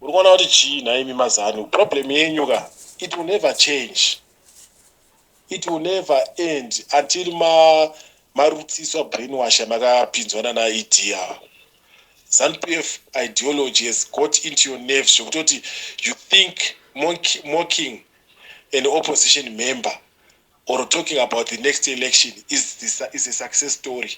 uri kuona kuti chii nhaimi mazanu problem yenyu ka it will never change it will never end until ma marutsiswa brainwash amakapinzwa nana ed ava zanu p f ideology has got into your nerves zvekutoti you think mocking an opposition member or talking about the next election is, the, is a success story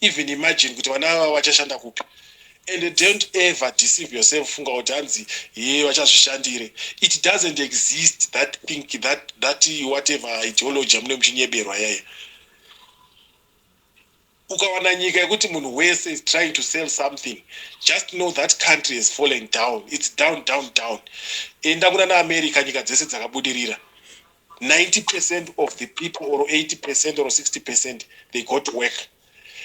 even imagine kuti vana vava vachashanda kupi and don't ever deceive yourself funga kuti hanzi hee vachazvishandire it doesn't exist that think that, that whatever ideology amune muchinyeberwa yaya ukawana nyika yekuti munhu wese is trying to sell something just know that country is falling down its down down down enda kuna naamerica nyika dzese dzakabudirira 90 percent of the people or 80 percent or 60 percent they go to work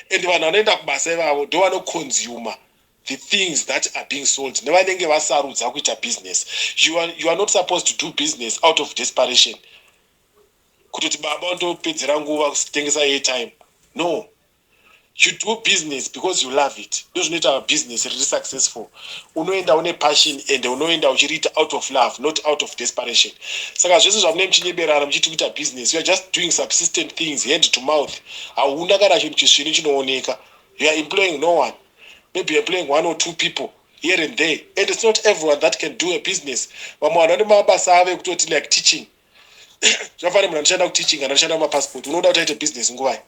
and vanhu vanoenda kubasa ivavo ndo vanoconsumer the things that are being sold nevanenge vasarudza kuita business you are, you are not supposed to do business out of desperation kutoti baba ndopedzera nguva kutengesa airtime no you do business because you love it ndozvinoita business riri successful unoenda une passion and unoenda uchiriita out of love not out of desperation saka zvese zvamunee muchinyeberana muchiti kuita business youare just doing subsistent things hand to mouth hauna kana chinhu chisvinu chinooneka you are employing no one maybe employing one or two people here and there and it's not everyone that can do a business vamwe vanhu vane mabasa avo ekutoti like teaching zvafana munhu anoshanda kuteaching kana anoshanda kumapassport unoda kuti aite business nguvai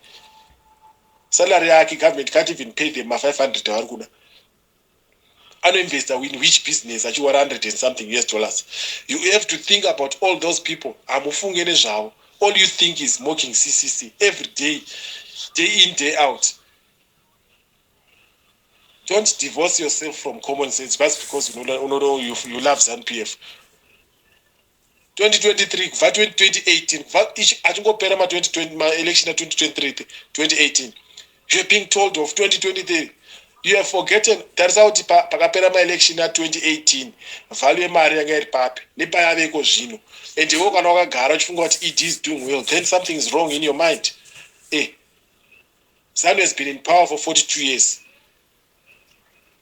salary yake government can't even pay them ma500 avari kuda anoinvesta in which business achiwa 100 and something us dollars you have to think about all those people hamufunge nezvavo all you think is mocking ccc every day day in day out don't divorce yourself from common sense just because you know, you, you love zanpf 2023 kubva 2018 kubva achingopera ma 2020 ma election a 2023 2018 you're being told of 2023 you have forgotten tarisa kuti pakapera ma election a 2018 value yemari yanga iri papi nepayaveko zvino and iwo kana wakagara uchifunga kuti ed is doing well then something is wrong in your mind eh zanu has been in power for 42 years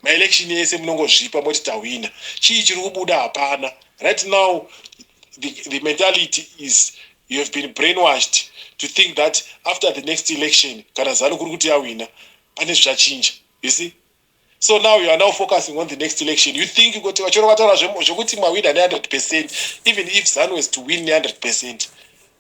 Ma election ese munongozvipa moti tawina. Chii chiri kubuda hapana. Right now the, the mentality is you have been brainwashed to think that after the next election kana zanu kuri kuti yawina pane zvichachinja. You see? So now you are now focusing on the next election. You think kuti vachoro vataura zvekuti mawina ne 100% even if zanu has to win ne 100%.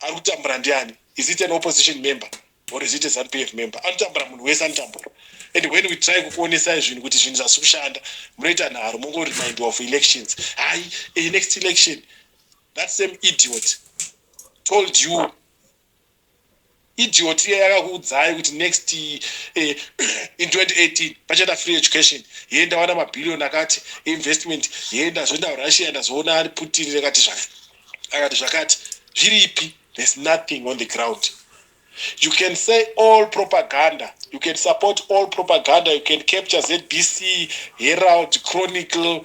Ari kutambura ndiani? Is it an opposition member or is it a ZANPF member? Anotambura munhu wese anotambura. And when we try kukuonesai zvinhu kuti zvinhu zvasi kushanda, munoita nharo mongo remindiwa of elections. Hayi, a next election that same idiot told you Idiot iya yakakuudzai kuti next eh, in 2018 pachaita free education yee ndawana mabillion akati investment yee ndazoenda kurussia ndazoona ari putin rekati zvakati akati zvakati zviri ipi there's nothing on the ground you can say all propaganda you can support all propaganda you can capture zbc herald chronicle